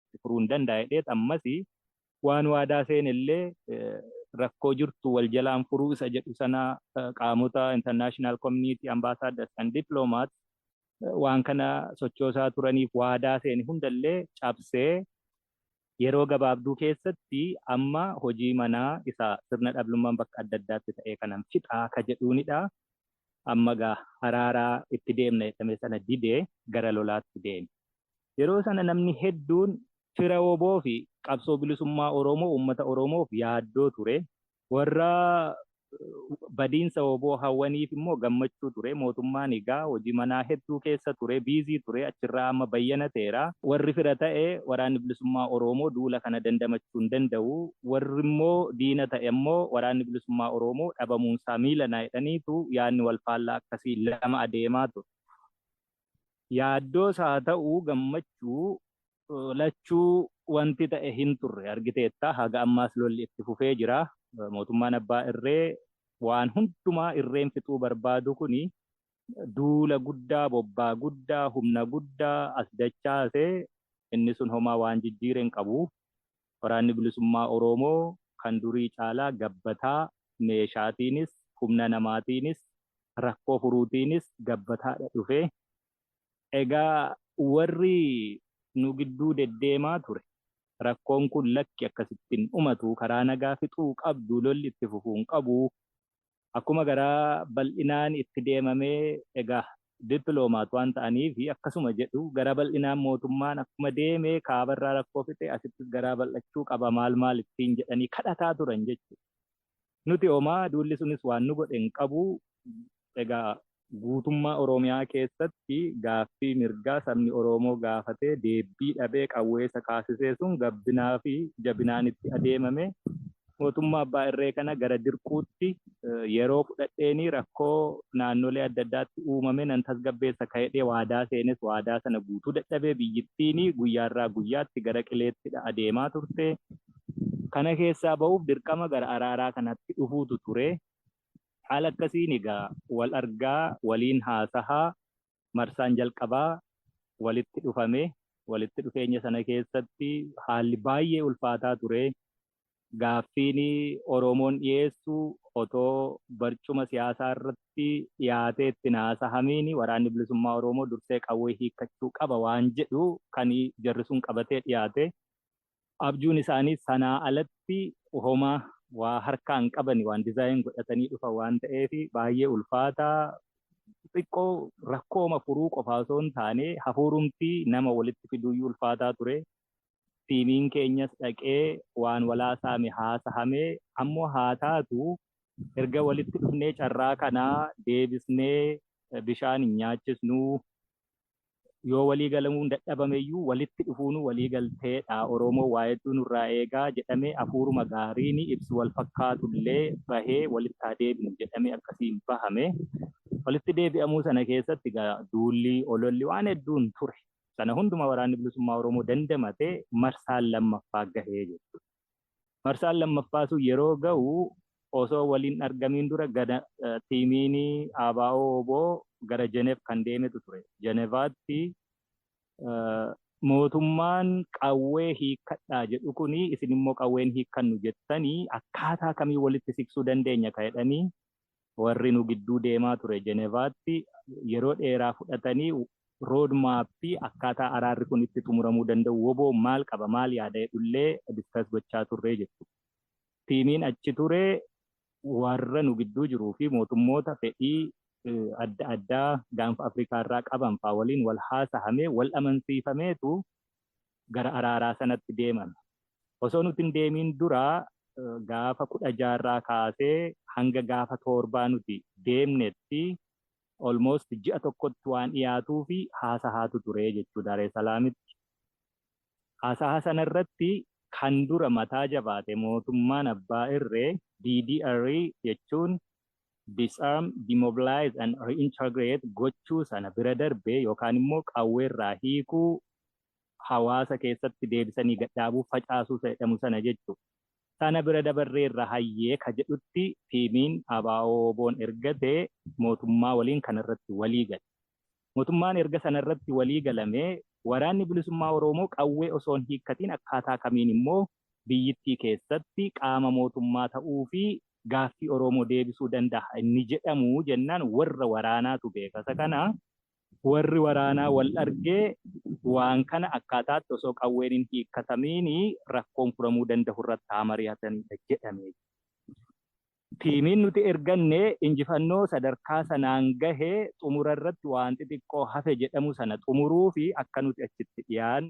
itti furuu hin danda'a jedheet ammas waan waadaa seene illee rakkoo jirtu wal jalaan furuu isa jedhu sana qaamota international community ambassadors and diplomats waan kana sochoosaa turaniif waadaa seene hunda illee cabsee yeroo gabaabduu keessatti amma hojii manaa isa sirna dhablummaan bakka adda addaatti ta'ee kanan fixaa ka jedhuunidha. amma egaa araaraa itti deemna jedhame sana dide gara lolaatti deeme. Yeroo sana namni hedduun fira wbo fi qabsoo bilisummaa Oromoo uummata Oromoof yaaddoo ture. Warra badiinsa wbo hawwaniif immoo gammachuu ture. Mootummaan egaa hojii manaa hedduu keessa ture, busy ture, achirraa amma bayyanateera. Warri fira ta'e waraanni bilisummaa Oromoo duula kana dandamachuu hin danda'u, warrimmoo diina ta'e ammoo Waraanni Bilisummaa Oroomoo dhabamuunsaa miila na jedhaniitu yaadni walfaallaa akkasii lama adeemaa ture. Yaaddoos haa ta'u gammachuu lachuu wanti ta'e hinturre. Argiteetta haga ammaas lolli itti fufee jira. Mootummaan abbaa irree waan hundumaa irreen fixuu barbaadu kuni duula guddaa, bobbaa guddaa, humna guddaa as dachaase inni sun homaa waan jijjiire hinqabu. Waraanni Bilisummaa Oroomoo kan durii caalaa gabbataa, meeshaatiinis, humna namaatiinis, rakkoo furuutiinis gabbataadha dhufe. Egaa warri nu gidduu deddeemaa ture rakkoon kun lakki akkasitti hin dhumatu, karaa nagaa fixuu qabdu, lolli itti fufuu hin qabu, akkuma garaa bal'inaan itti deemame egaa diplomat waan ta'aniif akkasuma jedhu garaa bal'inaan mootummaan akkuma deeme kaaba irraa rakkoo fixe asittis garaa bal'achuu qaba maal maal ittiin jedhanii kadhataa turan jechuudha. Nuti homaa duulli sunis waan nu godhe hin qabu egaa Guutummaa Oromiyaa keessatti gaaffii mirgaa sabni Oromoo gaafatee deebbii dhabee qawwee isa kaasisee sun gabbinaa fi jabinaan itti adeemamee mootummaa abbaa irree kana gara dirquutti yeroo fudhadheenii rakkoo naannolee adda addaatti uumame nan tasgabbeessa ka'edhee waadaa seenes waadaa sana guutuu dadhabee biyyittiini guyyaarraa guyyaatti gara qileettidha adeemaa turte. Kana keessaa ba'uuf dirqama gara araaraa kanatti dhufuutu ture. Haala akkasiin egaa wal argaa, waliin haasahaa, marsaan jalqabaa walitti dhufame. Walitti dhufeenya sana keessatti haalli baay'ee ulfaataa ture. Gaaffiin Oromoon dhiyeessu otoo barcuma siyaasaa irratti dhiyaatee itti hin haasahamiin Waraanni Bilisummaa Oromoo dursee qawwee hiikkachuu qaba waan jedhu kan jarri sun qabatee dhiyaate. Abjuun isaanii sanaa alatti homaa waa harkaa hin qabani waan dizaayin godhatanii dhufa waan ta'eef baay'ee ulfaata xiqqoo rakkooma furuu qofaa osoo hin taane hafuurumtii nama walitti fiduuyyuu ulfaataa ture tiimiin keenyas dhaqee waan walaa saame haasahame ammoo haa taatu erga walitti dhufnee carraa kanaa deebisnee bishaan hin nyaachisnuu yoo walii galamuun dadhabame iyyuu walitti dhufuunuu walii galteedha Oromoo waa hedduu nurraa eegaa jedhamee afuuruma gaariini ibsi wal fakkaatullee bahee walitti haa deebinu jedhamee akkasiin bahame walitti deebi'amuu sana keessatti egaa duulli ololli waan hedduun ture sana hunduma waraanni bilisummaa Oromoo dandamatee marsaan lammaffaa gahee jechuudha. Marsaan lammaffaa sun yeroo ga'u osoo wal hin argamiin dura gana tiimiin ABO wbo gara Jenev kan deemetu ture. Jenevaatti mootummaan qawwee hiikkadhaa jedhu kun isin immoo qawween hiikkannu jettanii akkaataa kamiin walitti siqsuu dandeenya ka jedhanii Warri nu gidduu deemaa ture Jenevaatti yeroo dheeraa fudhatanii road map akkaataa araarri kun itti xumuramuu danda'u wbo maal qaba maal yaada jedhullee discuss gochaa turre jettu. Tiimiin achi ture warra nu gidduu jiruu fi mootummoota fedhii adda addaa gaanfa Afrikaa irraa qaban fa'aa waliin wal haasahamee wal amansiifameetu gara araaraa sanatti deeman. Osoo nuti hin deemiin dura gaafa 16 irraa kaasee hanga gaafa toorbaa nuti deemnetti almost ji'a tokkotti waan dhiyaatuufi haasahaatu ture jechuu Daaree Salaamitti. Haasahaa sana irratti kan dura mataa jabaate mootummaan abbaa irree DDR jechuun disarm, demobilize and reintegrate gochuu sana bira darbee yookaan immoo qawweerraa hiikuu hawaasa keessatti deebisanii gadhaabuu, facaasuu isa jedhamu sana jechu. Sana bira dabarreerra hayyee ka jedhutti tiimiin ABO-WBOn ergate mootummaa waliin kana irratti walii gale. Mootummaan erga sana irratti walii galame Waraanni Bilisummaa Oroomoo qawwee osoo hin hiikkatiin akkaataa kamiin immoo biyyittii keessatti qaama mootummaa ta'uu fi gaaffii Oroomoo deebisuu dandaha inni jedhamu jennaan warra waraanaatu beeka isa kana. Warri waraanaa wal argee waan kana akkaataatti osoo qawween hin hiikkatamiin rakkoon furamuu dandahu irratti haa mari'atanidha jedhame. Tiimiin nuti erganne injifannoo sadarkaa sanaan gahe xumura irratti waan xixiqqoo hafe jedhamu sana xumuruufi akka nuti achitti dhiyaannu,